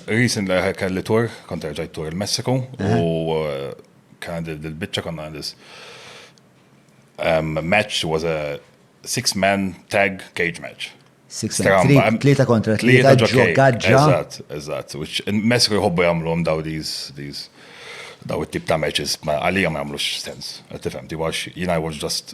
Recent li kelli tour, kont erġajt tour il-Messiku u kien il-bicċa konna għandis match was a six man tag cage match. Six man, tlieta kontra tlieta ġokaġġa. Eżatt, eżatt. Messiku jħobbu jagħmluhom daw these daw it-tip ta' matches għalija ma jagħmlux sens. Tifhem, ti għax jina I was just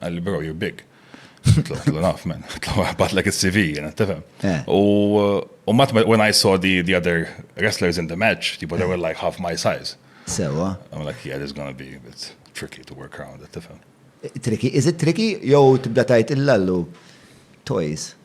Għalli bro, you're big. Tlu naf, man. Tlu għabatlek il-CV, jena, tifem. Eh. U mat, when I saw the, the other wrestlers in the match, tipo, they were like half my size. Sewa. I'm like, yeah, this is gonna be a bit tricky to work around, tifem. Tricky, is it tricky? Jow tibda tajt il-lallu, toys.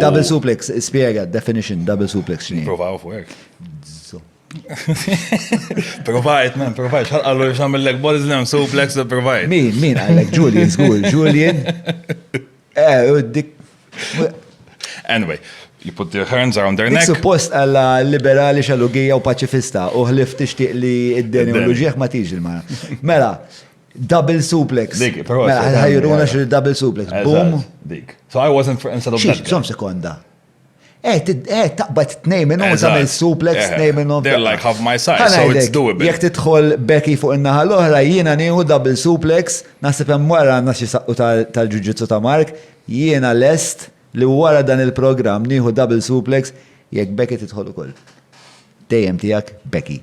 Double suplex, spiega, definition, double suplex xini. Provaw fuq hekk. Provajt, man, provajt, xal għallu xal mill-lek bodies nem suplex, provajt. Min, min għallek, Julian, zgur, Julian. Eh, u dik. Anyway, you put their hands around their neck. Suppost għalla liberali xalugija u paċifista u ħlif tixtieq li id-deni u l-ġieħ ma tiġi l-mara. Mela, Double suplex. Dik, però. Mela, ħajruna xi double suplex. Boom. Dik. So I wasn't for instead of that. Xom sekonda. Eh, eh, taqbad t-nej minn u tamil suplex eh, t-nej minn u. They're like half my size, so it's doable. Jek titħol Becky fuq il-naħa l-oħra, jiena nieħu double suplex, nasib hemm wara għandna xi saqqu tal-ġuġitsu ta' Mark, jiena lest li wara dan il-programm nieħu double suplex jekk Becky titħol ukoll. Dejjem tiegħek Becky.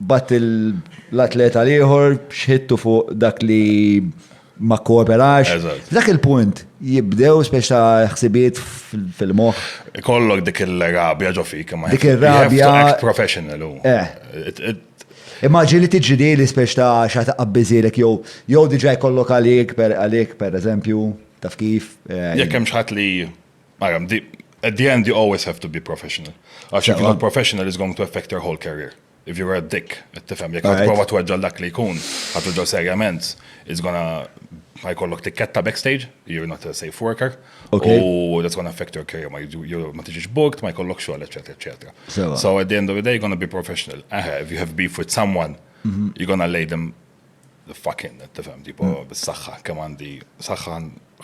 Mbagħad l-atleta l-ieħor x'ħidtu fuq dak li ma kkooperax. F'dak il-punt jibdew speċi ta' ħsibijiet fil-moħħ. Ikollok dik il-rabja ġo fik. Dik ir-rabja. Professional hu. Eh. Immaġini tiġi di li speċi ta' xa taqabbiżilek jew jew diġà jkollok għalik per għalik pereżempju taf kif. Eh, Jekk hemm xi ħadd li Aram, di, at the end you always have to be professional. Għax if you're not professional is going to affect your whole career. If you're a dick, tifhem, jekk għad prova tweġġa dak li jkun, għad tweġġa serjament, it's gonna ħajkollok tikketta backstage, you're not a safe worker, u that's gonna affect your career, ma tiġiġ booked, ma jkollok xogħol, eċetera, eċetera. So at the end of the day, you're gonna be professional. Aha, if you have beef with someone, mhm. you're gonna lay them Fucking, tifhem, tipo, hmm. bis-saħħa, kemm għandi saħħa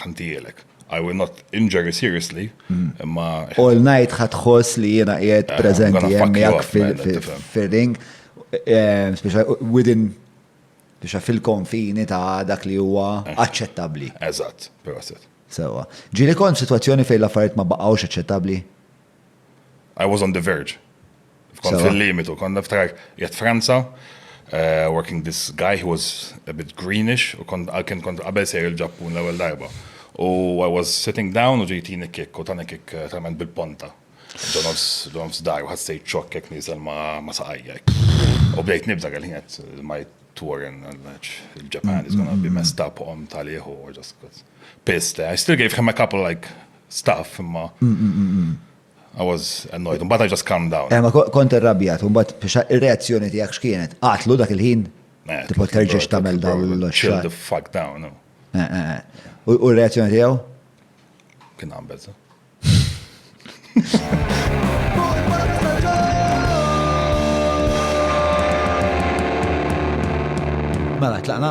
ħantijelek. I will not injure you seriously, hmm. imma. All night ħatħoss li jiena qiegħed eh, preżenti jemmijak fil-ring, eh, speċa within biex fil-konfini ta' dak li huwa eh. aċċettabbli. Eżatt, proset. Sewa. Ġili kont situazzjoni fejn l-affarijiet ma baqgħux aċċettabbli? I was on the verge. Kont fil-limitu, kont niftakar jgħat Franza, eh, working this guy who was a bit greenish, u kont għalkin kont qabel sejr il-ġappun l-ewel darba. U I was sitting down u ġejtini kik, u tani kik eh, trament bil-ponta. Ġonofs, ġonofs dar, u ħassejt ċok jek nizel ma saqajja. U bdejt nibza għal-ħinet, ma tour in Japan is gonna be messed up on taliħu or just pissed. I still gave him a couple like staff, imma. I was annoyed, mbagħad I just calmed down. Eh, ma kont irrabjat, mbagħad biex ir-reazzjoni tiegħek x'kienet? Qatlu dak il-ħin? Eh, Tipo terġiex tagħmel dawn l-xogħol. Chill the fuck down. Eh, eh, eh. U r-reazzjoni tiegħu? Kien għambel, sa. Mela, tlaqna.